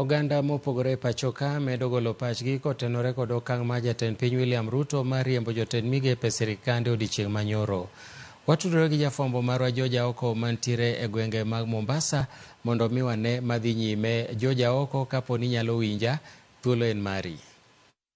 Oganda mopogore e pachoka medo golo pachgi kotenore kod okang' mar jatend piny William Ruto mar riembo jotend migepe sirikande odiechieng' manyoro. Watudore gi jafwambo marwa George Aoko mantiere e gwenge mag Mombasa mondo omi wane madhi nyime. George Aoko, kapo ni inyalo winja, thuolo en mari.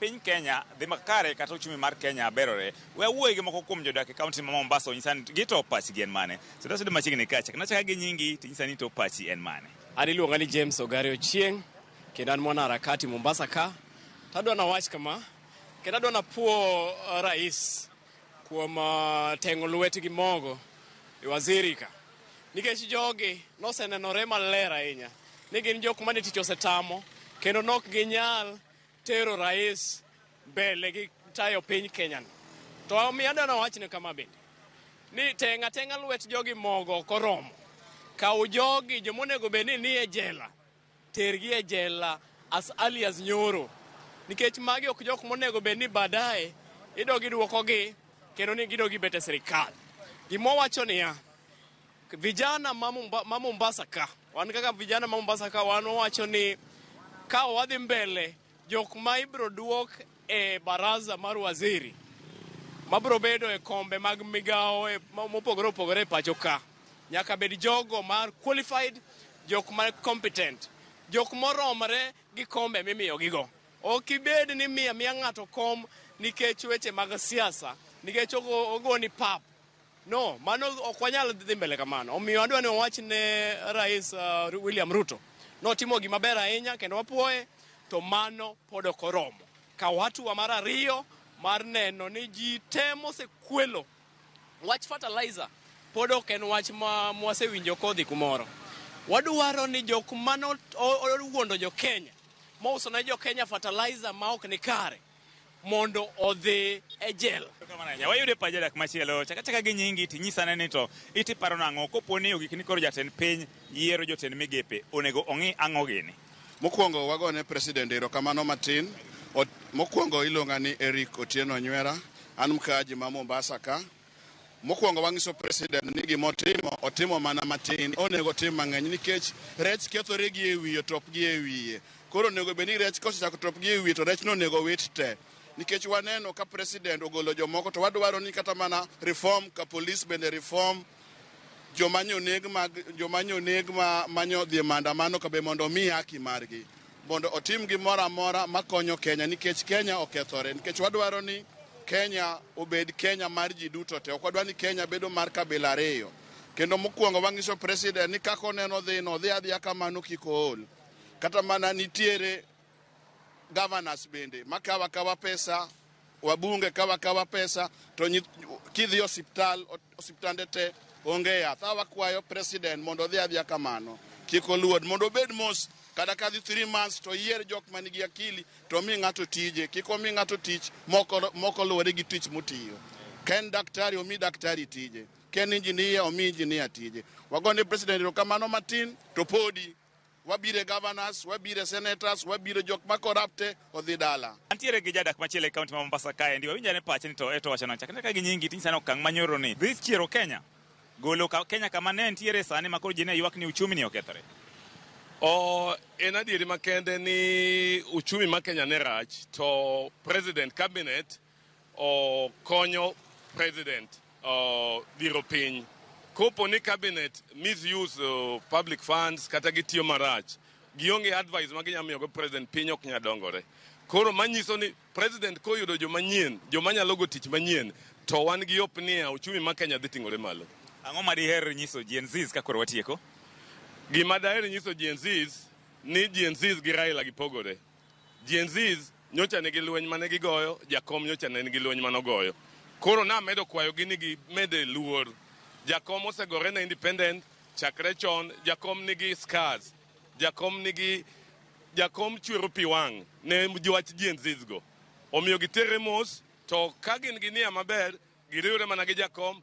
Piny Kenya dhi makare kata uchumi mar Kenya berore. We awuoye gi moko kuom jodak e kaunti ma Mombasa onyisa ni gito pachgi en mane. Suda suda machiegni kacha. Kendo achaka gi nyingi to inyisa ni to pachi en mane. An iluonga ni James Ogari Ochieng' kendo an mwana harakati Mombasa ka. To adwa na wach kama kendo adwa na puo uh, rais kuom uh, teng'o lwete gi mogo e waziri ka. Nikech jogi nosenenore maler ahinya ni gin jok mane tich osetamo kendo nok ginyal tero rais mbele gi tayo piny Kenya ni. To omiyo adwa nawachne kama bende ni tenga tenga lwet jogi mogo ok oromo. Kaw jogi joma onego bed ni nie jela tergi e jela as early as nyoro nikech magi ok jok monego bed ni baadaye idogi duokogi kendo ni gidogi bet e sirikal. Gima owacho niya, Vijana ma Momba- ma Mombasa ka, wan kaka vijana ma Mombasa ka wan wacho ni ka wadhi mbele jok ma ibiro duok e baraza mar waziri mabiro bedo e kombe mag migawo e- ma- mopogore opogore e pacho ka nyaka bed jogo ma qualified jok ma competent jok moromre gi kombe mimiyogigo ok ibed ni miya miya ng'ato kom nikech weche mag siasa nikech ogo- ogoni pap No, mano ok wanyal dhi mbele kamano. Omiyo adwa ni wawach ne Rais uh, William Ruto notimo gima ber ahinya kendo wapuoye, to mano pod ok oromo. Kaw hatua mar ariyo mar neno ni ji te mosekwelo wach fertilizer pod ok en wach ma mwasewinjo kodhi kumoro. Wadwaro ni jok mano owuondo jo Kenya mouso ne jo Kenya fertilizer ma ok ni kare mondo odhi e jela. Wayudo e paja dak machielo chakachaka gi nyingi tinyisane ni to iti paro nang'o kopo ni ogik ni koro jatend piny yiero jotend migepe onego ong'i ang'o gini. Mokwongo wagone president erokamano matin. Mokwongo iluonga ni Eric Otieno Nywera. An mkaaji ma Mombasa ka. Mokwongo wanyiso president ni gima otimo otimo mana matin, onego otim mang'eny nikech rech kethore gi e wiye top gi e wiye. Koro onego bed ni rech kosechako top gi e wiye to rech no onego wit te. Nikech waneno ka president ogolo jomoko to wadwaro ni kata mana reform ka police bende reform joma nyoneg mag joma nyoneg ma manyo dhi e maandamano ka be mondo omi haki margi. mondo otim gimoro amora makonyo Kenya nikech Kenya okethore nikech wadwaro ni Kenya obed Kenya mar ji duto te. Ok wadwar ni Kenya bedo mar kabila ariyo. Kendo mokwongo wang'iso president ni kaka oneno dhi no dhi adhiya kamano kik ool. Kata mana nitiere governors bende makawa kawa pesa Wabunge kawa kawa pesa to kidhi osiptal osiptande te onge yath. Awa kwayo president mondo odhi adhiya kamano. Kik oluod mondo obed mos kata ka dhi 3 months to yier jok man gi akili to mi ng'ato tije. Kik omi ng'ato tich moko moko luwore gi tich motiyo. Ken daktari omi daktari tije. Ken injinia omi injinia tije. Wagone president erokamano matin to podi. wabire governors, wabire senators, wabire jok ma corrupte odhi dala. Antiere gi jadak machielo e kaunti ma Mombasa kae ndi wawinjane pache ni to eto wacho nancha kata ka gi nyingi tin sana okang' manyoro ni dhi chiero Kenya golo ka Kenya kama ne ntiere sani ma koro ji ne ywak ni uchumi ni okethore. O en adieri makende ni uchumi ma Kenya ne rach to president cabinet okonyo president dhiro piny. Kopo ni cabinet misuse uh, public funds kata gitiyo marach, gionge advice ma ginyalo miyogo president, piny ok nyal dongore. Koro manyiso ni president koyudo joma nyien, joma nyalo go tich manyien, to wan gi hope niya uchumi ma Kenya dhi ting'ore malo. Ang'o ma diher nyiso Gen Zs ka koro watieko? Gima daher nyiso Gen Zs ni Gen Zs gi Raila gipogore. Gen Zs nyocha nigi lweny mane gigoyo, Jakom nyocha ne nigi lweny mane ogoyo. Koro namedo kwayogi ni gimede luor. Jakom osegore ne independent chakre chon, Jakom nigi scars, Jakom nigi, Jakom chwero pi wang' ne wach Gen Zs go. Omiyo giterre mos to ka gin gi nia maber giriwre mana gi Jakom.